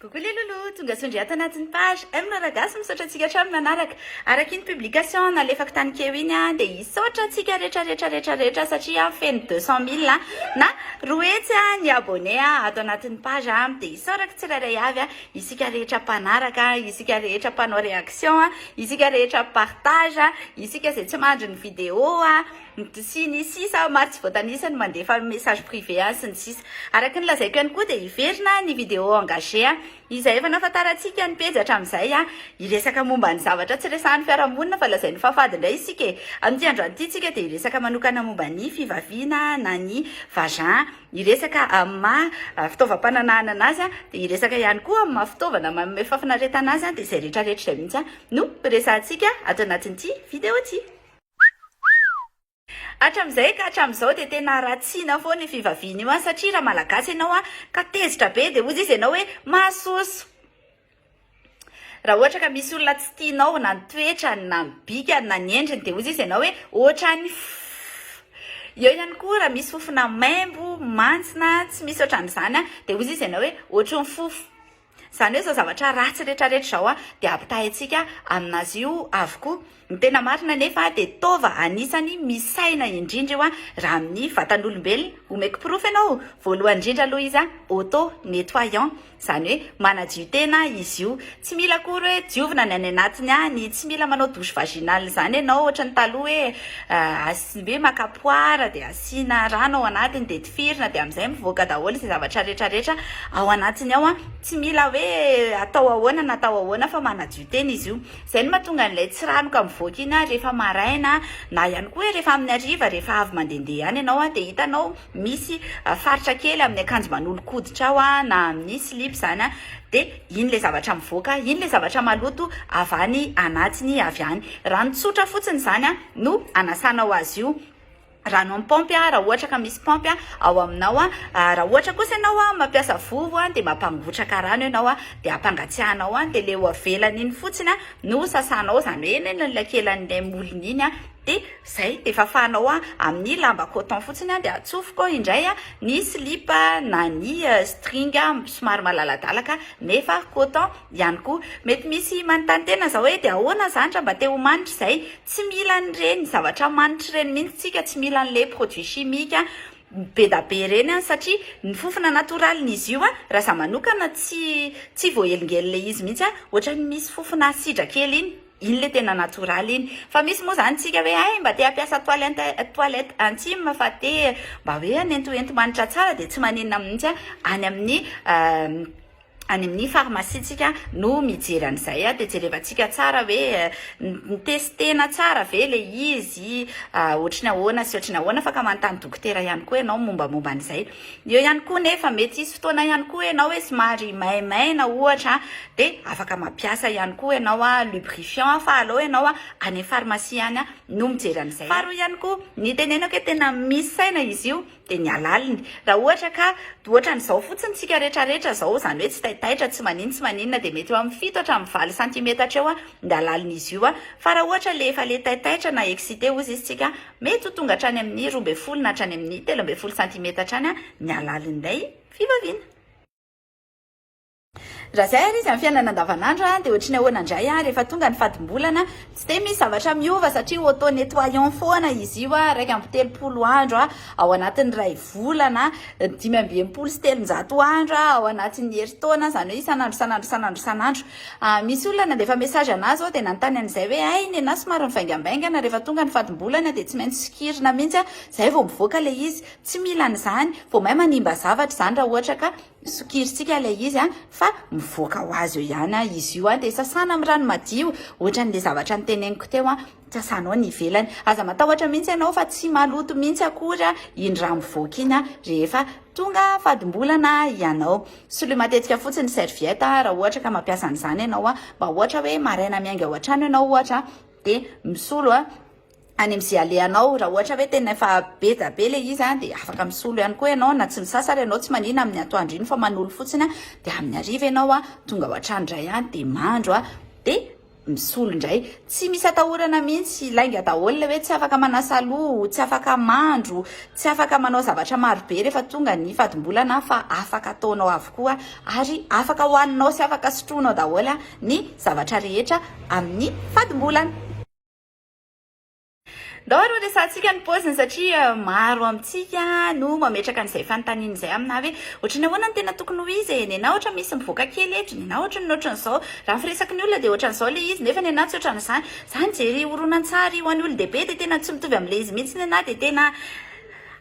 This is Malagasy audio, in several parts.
Coucou les loulous, tonga sondry ato anatin'ny page M Raragasy, misaotra antsika hatrany nanaraka. Araka iny publication nalefako tany keo iny an, dia hisaotra antsika rehetra rehetra rehetra rehetra satria feno 200 mille na roa hetsy an ny abonné ato anatin'ny page an, dia hisaorako tsirairay avy an, isika rehetra mpanaraka, isika rehetra mpanao réaction, isika rehetra mpipartage, isika izay tsy mandry ny vidéo an. sy ny sisa maro tsy voatanisa no mandefa message privé any sy ny sisa Araka ny lazaiko ihany koa dia hiverina ny vidéo engagé a Izay efa nahafantarantsika ny pejy hatramin'izay a Hiresaka momba ny zavatra tsy resahan'ny fiarahamonina fa lazain'ny fahafady indray isika e Amin'ity androany ity tsika dia hiresaka manokana momba ny fivaviana na ny vagin Hiresaka amin'ny maha fitaovam-pananahana anazy a Dia hiresaka ihany koa amin'ny maha fitaovana manome fahafinaretana azy a Dia izay rehetra rehetra izay mihitsy a no resahantsika ato anatin'ity vidéo ity. Hatramin'izay ka hatramin'izao dia tena haratsiana foana io fivaviana io an! satria raha malagasy ianao an! ka tezitra be dia hozy izy ianao hoe mahasoso! raha ohatra ka misy olona tsy tianao na ny toetrany na ny bikany na ny endriny dia hozy izy ianao hoe ohatran'ny fff! eo ihany koa raha misy fofona maimbo, mantsina, tsy misy ohatran'izany an! dia hozy izy ianao hoe ohatry ny fofo! Izany hoe izao zavatra ratsy retraretra izao dia ampitahaintsika amin'azy io avokoa. Ny tena marina anefa dia taova anisany misy saina indrindra io raha amin'ny vatan'olombelona. Omeko porofo ianao, voalohany indrindra aloha izy auto nettoyant, izany hoe manadio tena izy io. Tsy mila akory hoe diovina ny any anatiny any, tsy mila manao douche vaginale izany ianao ohatran'ny taloha hoe Tsy be maka poara dia asiana rano ao anatiny dia tifirina dia amin'izay mivoaka daholo izay zavatra rehetra rehetra ao anatiny ao an, tsy mila hoe atao ahoana na atao ahoana fa manadio tena izy io, izay no mahatonga an'ilay tsiranoka mivoaka iny an rehefa maraina na ihany koa hoe rehefa amin'ny hariva rehefa avy mandehandeha ihany ianao an dia hitanao misy faritra kely amin'ny akanjo manolo-koditrao an na amin'ny slip izany an dia iny ilay zavatra mivoaka iny ilay zavatra maloto avy any anatiny avy any, rano tsotra fotsiny izany an. no anasanao azy io rano amin'ny paompy a raha ohatra ka misy paompy a ao aminao a raha ohatra kosa ianao a mampiasa vovo a dia mampangotraka rano ianao a dia ampangatsiahanao any dia le ho avelany iny fotsiny a no sasanao izany hoe eny eny lakelan'ilay molony iny a dia zay dia fafanao a amin'ny lamba coton fotsiny a dia atsofoko indray a ny silipa na ny string somary malaladalaka nefa coton Ihany koa. Mety misy manontany tena izao hoe, dia ahoana izany raha mba te ho manitra izay? Tsy mila an'ireny zavatra manitra ireny mihitsy isika, tsy mila an'ilay produit chimique bedabe ireny satria ny fofona natoralin'izy io, raha izaho manokana tsy tsy voahelingelina ilay izy mihitsy aho, ohatran'ny misy fofona asidra kely iny, iny ilay tena natoraly iny. Fa misy moa izany isika hoe, hay mba te hampiasa toilette toilette intime fa te mba hoe hanentohento manitra tsara dia tsy maninona mihitsy aho any amin'ny any amin'ny pharmacie tsika no mijery an'izay dia jerevantsika tsara hoe nitestena tsara ve le izy ohatry ny ahoana sy ohatry ny ahoana fa ka manontany dokotera ihany koa ianao mombamomba an'izay eo ihany koa nefa mety hisy fotoana ihany koa ianao hoe somary maimaina ohatra dia afaka mampiasa ihany koa ianao a lubrifiant fa alao ianao a any pharmacie any no mijery an'izay faharoa ihany koa ny tenenako hoe tena misy saina izy io dia ny halaliny. Raha ohatra ka ohatran'izao fotsiny tsika rehetra rehetra izao, izany hoe tsy taitaitra, tsy maninona tsy maninona, dia mety eo amin'ny fito hatramin'ny valo santimetatra eo ny halalin'izy io. Fa raha ohatra ilay efa ilay taitaitra na excité hozy izy tsika, mety ho tonga hatrany amin'ny roa ambin'ny folo na hatrany amin'ny telo ambin'ny folo santimetatra any ny halalin'ilay fivaviana. Raha izay ary izy amin'ny fiainana andavanandro dia ohatry ny ahoana indray rehefa tonga ny fadim-bolana? Tsy dia misy zavatra miova satria auto nettoyant foana izy io, iraika amby telopolo andro ao anatin'ny iray volana, dimy amby enimpolo sy telonjato andro ao anatin'ny herintaona, izany hoe isan'andro isan'andro isan'andro isan'andro. Misy olona nandefa message anah izao dia nanontany an'izay hoe hay nenah somary mivaingambaingana rehefa tonga ny fadim-bolana dia tsy maintsy sokirina mihitsy izay vao mivoaka ilay izy. Tsy mila an'izany, vao may manimba zavatra izany raha ohatra ka. sokirintsika ilay izy an, fa mivoaka ho azy eo ihany an, izy io an, dia sasana amin'ny rano madio, ohatran'ilay zavatra noteneniko teo an, sasanao ny ivelany, aza matahotra mihitsy ianao fa tsy maloto mihitsy akory an, iny rà mivoaka iny an, rehefa tonga fadim-bolana ianao, soloy matetika fotsiny ny serviette an, raha ohatra ka mampiasa an'izany ianao an, mba ohatra hoe maraina miainga ao an-trano ianao ohatra an, dia misolo an, any amin'izay alehanao. Raha ohatra hoe tena efa be dia be ilay izy dia afaka misolo ihany koa ianao na tsy misasa ary ianao tsy manina amin'ny atoandro iny fa manolo fotsiny dia amin'ny hariva ianao tonga ao an-trano indray dia mandro dia misolo indray. Tsy misy atahorana mihitsy, lainga daholo ilay hoe tsy afaka manasa loha, tsy afaka mandro, tsy afaka manao zavatra marobe rehefa tonga ny fadim-bolana fa afaka ataonao avokoa ary afaka hohaninao sy afaka sotroinao daholo ny zavatra rehetra amin'ny fadim-bolana. Ndao aloha resahantsika ny paoziny satria maro amintsika no mametraka an'izay fanontaniana izay aminà hoe ohatry ny ahoana no tena tokony ho izy e? Nenà ohatra misy mivoaka kely e, dry nenà ohatry ny ohatran'izao. Raha ny firesaky ny olona dia ohatran'izao ilay izy nefa nenà tsy ohatran'izany. Izaho nijery horonantsary ho an'ny olon-dehibe dia tena tsy mitovy amin'ilay izy mihitsy nenà dia tena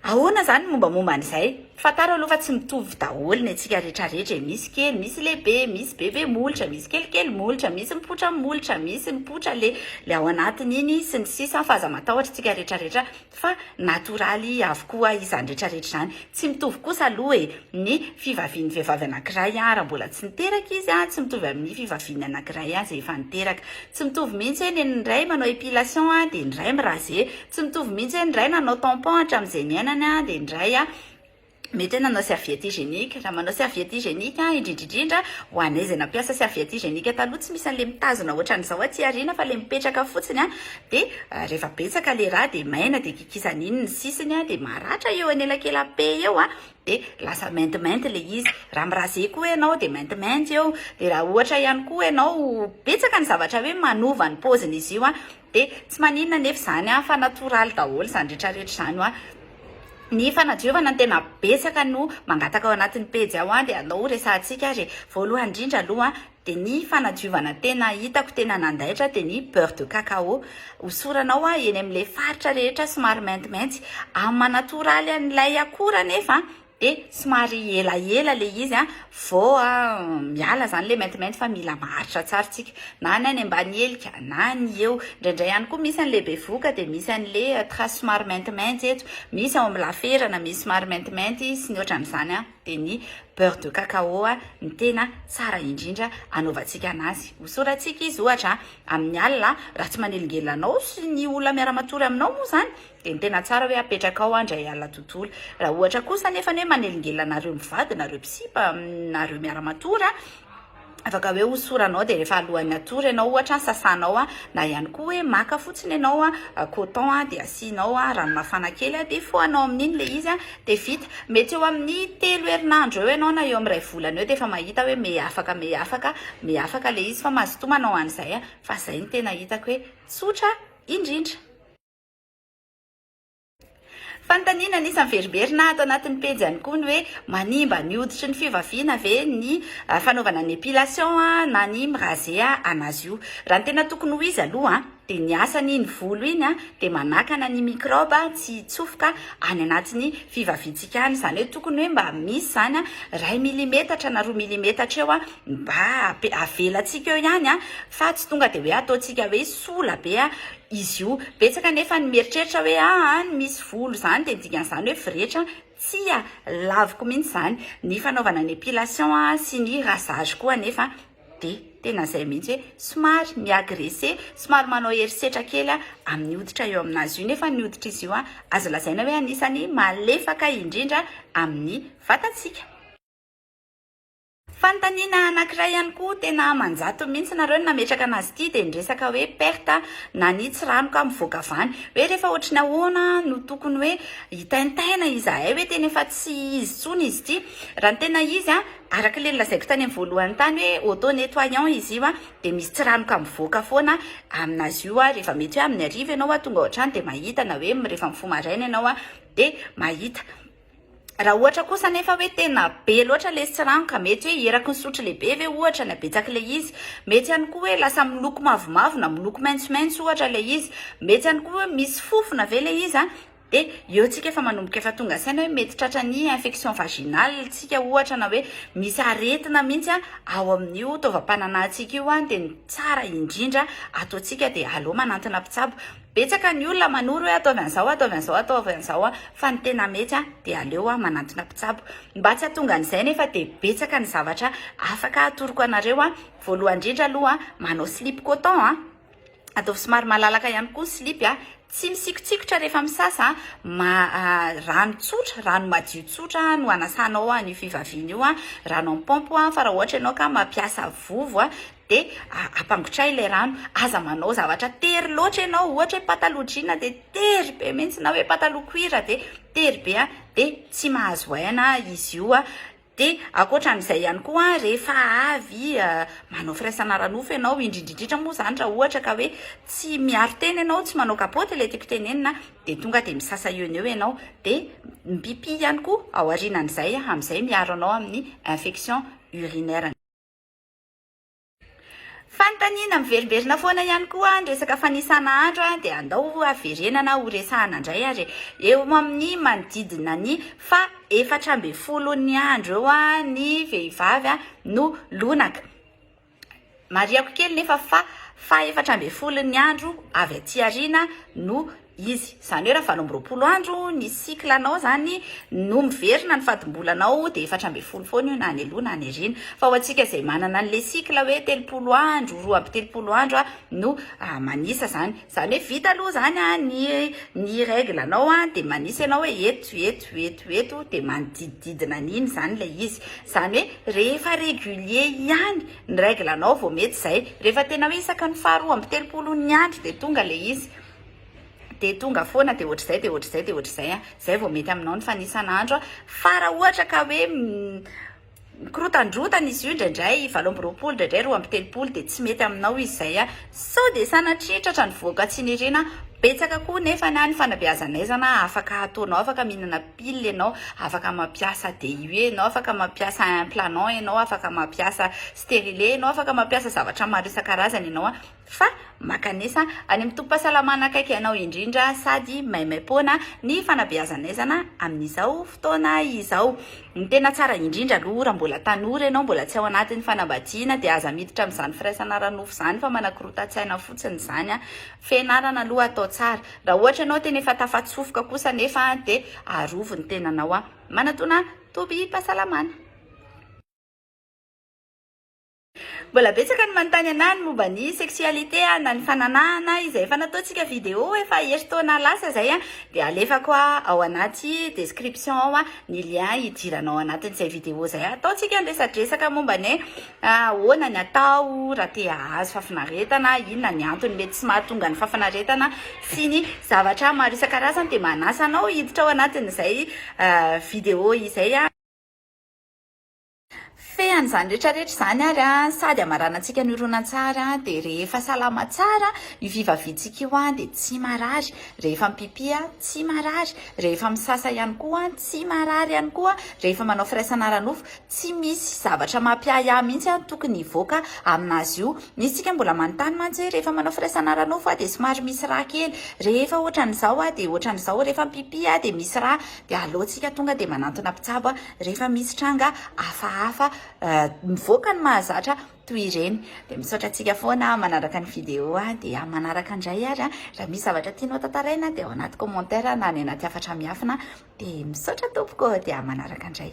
Ahoana izany ny mombamomba an'izay? Fantaro aloha fa tsy mitovy daholo ny antsika rehetra rehetra e, misy kely, misy lehibe, misy bebe molotra, misy kelikely molotra, misy mipoitra molotra, misy mipoitra le le ao anatiny iny sy ny sisa fa aza matahotra isika rehetra rehetra fa natoraly avokoa izany rehetra rehetra izany. Tsy mitovy kosa aloha e, ny fivavian'ny vehivavy anankiray an raha mbola tsy niteraka izy an tsy mitovy amin'ny fivavian'ny anankiray an izay efa niteraka. Tsy mitovy mihitsy hoe ny ny iray manao epilation an dia ny iray mi-raser. Tsy mitovy mihitsy hoe ny iray nanao tampon hatramin'izay niainany an, dia ny iray an, mety hoe nanao serviette hygiénique. Raha manao serviette hygiénique an, indrindra indrindra ho anay izay nampiasa serviette hygiénique taloha, tsy misy an'ilay mitazona ohatran'izao aty aoriana fa ilay mipetraka fotsiny an, dia rehefa betsaka ilay rà dia maina dia kikisana iny ny sisiny an, dia maratra eo anelakelam-pe eo an, dia lasa maintimainty ilay izy. Raha mi-raser koa ianao dia maintimainty eo. Dia raha ohatra ihany koa ianao betsaka ny zavatra hoe manova ny paoziny izy io an, Dia tsy maninona anefa izany an, fa natoraly daholo izany rehetrarehetra izany hoa. Ny fanahy Jehovah no tena betsaka no mangataka ao anatin'ny pejy ao an, dia alao ho resahantsika ary e. Voalohany indrindra aloha an, dia ny fanadiovana tena hitako tena nandaitra dia ny beurre de cacao. Hosoranao an, eny amin'ilay faritra rehetra somary maintimainty. Amin'ny maha natoraly an'ilay akora anefa an, de somary elaela le izy a vao a miala zany le maintimainty fa mila maharitra tsara tsika na ny any ambany helika na ny eo indraindray ihany koa misy an'le bevoka de misy an'le trace somary maintimainty eto misy ao amin'ny laferana misy somary maintimainty sy ny ohatran'izany a de ny beurre de cacao a ny tena tsara indrindra anaovantsika anazy hosoratsika izy ohatra amin'ny alina raha tsy manelingelina anao sy ny olona miara-matory aminao moa zany Dia ny tena tsara hoe apetraka ao an-dry Ayala tontolo. Raha ohatra kosa anefa ny hoe manelingelina anareo mivady, nareo mpisipa, nareo miara-matory an, afaka hoe hosoranao dia rehefa alohan'ny hatory ianao ohatra an, sasanao an, na ihany koa hoe maka fotsiny ianao an, coton an, dia asianao an, rano mafana kely an, dia fohanao amin'iny ilay izy an, dia vita. Mety eo amin'ny telo herinandro eo ianao na eo amin'ny iray volana eo dia efa mahita hoe meafaka, meafaka, meafaka ilay izy fa mazotoa manao an'izay an, fa izay no tena hitako hoe tsotra indrindra. Fanontaniana anisan'ny veriberina ato anatin'ny pejy ihany koa ny hoe manimba ny hoditry ny fivaviana ve ny ah, fanaovana ny epilation ah, na ny mirase ah, anazy io. Raha ny tena tokony ho izy aloha ah, dia ny asan'iny volo iny ah, dia manakana ny microbe ah, tsy hitsofoka any anatin'ny fivaviantsika any. Izany hoe tokony hoe mba misy izany ah, iray milimetatra na roa milimetatra eo ah, mba ape- avelantsika eo ihany ah, fa tsy tonga dia hoe ataontsika hoe sola be ah, izy io. Betsaka anefa ny mieritreritra hoe aa ny misy volo izany dia ny dikan'izany hoe firetra, tsia, laviko mihitsy izany. Ny fanaovana ny epilation sy ny rasage koa anefa dia tena izay mihitsy hoe somary mi-agresser, somary manao herisetra kely amin'ny hoditra eo amin'azy io nefa ny hoditr'izy io azo lazaina hoe anisan'ny malefaka indrindra amin'ny vatantsika. Fanontaniana anankiray ihany koa tena manjatony mihitsy nareo no nametraka anazy ity dia ny resaka hoe perte na ny tsiranoka mivoaka vany hoe rehefa ohatry ny ahoana no tokony hoe hitaintaina izahay hoe tena efa tsy izy tsony izy ity raha ny tena izy a araka le lazaiko tany amin'ny voalohany tany hoe auto nettoyant izy io a dia misy tsiranoka mivoaka foana aminazy io a rehefa mety hoe amin'ny ariva ianao a tonga ohatrany dia mahita na hoe rehefa mifoha maraina ianao a dia mahita Raha ohatra kosa anefa hoe tena be loatra ilay sirano ka mety hoe eraky ny sotro lehibe ve ohatra ny habetsaka ilay izy. Mety ihany koa hoe lasa miloko mavomavo na miloko maitsomaitso ohatra ilay izy. Mety ihany koa hoe misy fofona ve ilay izy. Dia eo isika efa manomboka efa tonga saina hoe mety tratra ny infection vaginale isika ohatra na hoe misy aretina mihitsy ao amin'io taovam-pananahantsika io. Dia ny tsara indrindra ataontsika dia aleo manantona mpitsabo. Betsaka ny olona manoro hoe ataovy an'izao, ataovy an'izao, ataovy an'izao fa ny tena mety dia aleo manantona mpitsabo. Mba tsy hahatonga an'izay nefa dia betsaka ny zavatra afaka hatoroko anareo. Voalohany indrindra aloha, manao slip coton, ataovy somary malalaka ihany koa ny slip, tsy misikotsikotra rehefa misasa, rano tsotra, rano madio tsotra no anasanao an'io fivaviana io, rano amin'ny paompy fa raha ohatra ianao ka mampiasa vovo Dia ampangotray ilay rano, aza manao zavatra tery loatra ianao, ohatra hoe pataloha jean dia tery be mihitsy na hoe pataloha cuir dia tery be dia tsy mahazo aina izy io, dia ankoatra an'izay ihany koa rehefa avy manao firaisana ara-nofo ianao, indrindra indrindra moa izany raha ohatra ka hoe tsy miaro tena ianao, tsy manao kapaoty ilay tiako tenenina, dia tonga dia misasa eo no eo ianao, dia mipipi ihany koa aorianan'izay amin'izay miaro anao amin'ny infection urinaire. Fanontaniana miverimberina foana ihany koa ny resaka fanisana andro dia andao haverenana ho resahana indray ary e. Eo amin'ny manodidina ny faha efatra ambin'ny folon'ny andro eo ny vehivavy no lonaka. Marihako kely nefa fa faha efatra ambin'ny folon'ny andro avy aty aoriana no izy. Izany hoe raha valo amby roapolo andro ny cycle anao izany no miverina ny fadim-bolanao dia efatra ambin'ny folo foana io na any aloha na any aoriana. Fa ho antsika izay manana an'ilay cycle hoe telopolo andro, roa amby telopolo andro no manisa izany. Izany hoe vita aloha izany ny ny règle anao dia manisa ianao hoe eto, eto, eto, eto dia manodidididina an'iny izany ilay izy. Izany hoe rehefa régulier ihany ny règle anao vao mety izay. Rehefa tena hoe isaka ny faharoa amby telopolo ny andro dia tonga ilay izy. dia tonga foana dia ohatr'izay dia ohatr'izay dia ohatr'izay a, izay vao mety aminao ny fanisan'andro a, fa raha ohatra ka hoe mikorotandrotana izy io indraindray valo amby roapolo indraindray roa amby telopolo dia tsy mety aminao izy izay a, sao dia sanatria tratra ny vohoka tsy niriana, betsaka koa nefa ny ahy ny fanabeazan'aizana afaka ataonao afaka mihinana pile ianao, afaka mampiasa DIU ianao, afaka mampiasa implanant ianao, afaka mampiasa sterilet ianao, afaka mampiasa zavatra maro isan-karazany ianao a. fa makanesa any amin'ny tobim-pahasalamana akaiky anao indrindra sady maimaim-poana ny fanabeazan'aizana amin'izao fotoana izao. Ny tena tsara indrindra aloha raha mbola tanora ianao, mbola tsy ao anatin'ny fanambadiana dia aza miditra amin'izany firaisana ara-nofo izany fa manakorotan-tsaina fotsiny izany an! Fianarana aloha atao tsara. Raha ohatra ianao tena efa tafatsofoka kosa anefa dia arovy ny tenanao an! Manatona tobim-pahasalamana. Mbola betsaka ny manontany anah ny momba ny sexualité a, na ny fananahana izay efa nataontsika video efa herintaona lasa zay a, dia alefako a ao anaty description ao a ny lien hidiranao anatin'izay video zay ataontsika ny resadresaka momba ny hoe ahoana ny atao raha te hahazo fafinaretana, inona ny antony mety tsy mahatonga ny fafinaretana sy ny zavatra maro isan-karazany dia manasa anao hiditra ao anatin'izay video izay a. Fean'izany rehetra rehetra izany ary sady hamaranantsika ny horonantsary dia rehefa salama tsara io fivaviantsika io dia tsy marary, rehefa mipipi tsy marary, rehefa misasa ihany koa tsy marary ihany koa, rehefa manao firaisana ara-nofo tsy misy zavatra mampiahiahy mihitsy tokony hivoaka amin'azy io. Misy tsika mbola manontany mantsy hoe rehefa manao firaisana ara-nofo dia somary misy rà kely, rehefa ohatran'izao dia ohatran'izao, rehefa mipipi dia misy rà dia aleontsika tonga dia manantona mpitsabo. Rehefa misy tranga hafahafa mivoaka ny mahazatra toy ireny dia misaotra antsika foana manaraka ny vidéo dia manaraka indray ary raha misy zavatra tianao tantaraina dia ao anaty commentaire na any anaty hafatra miafina dia misaotra tompoko dia manaraka indray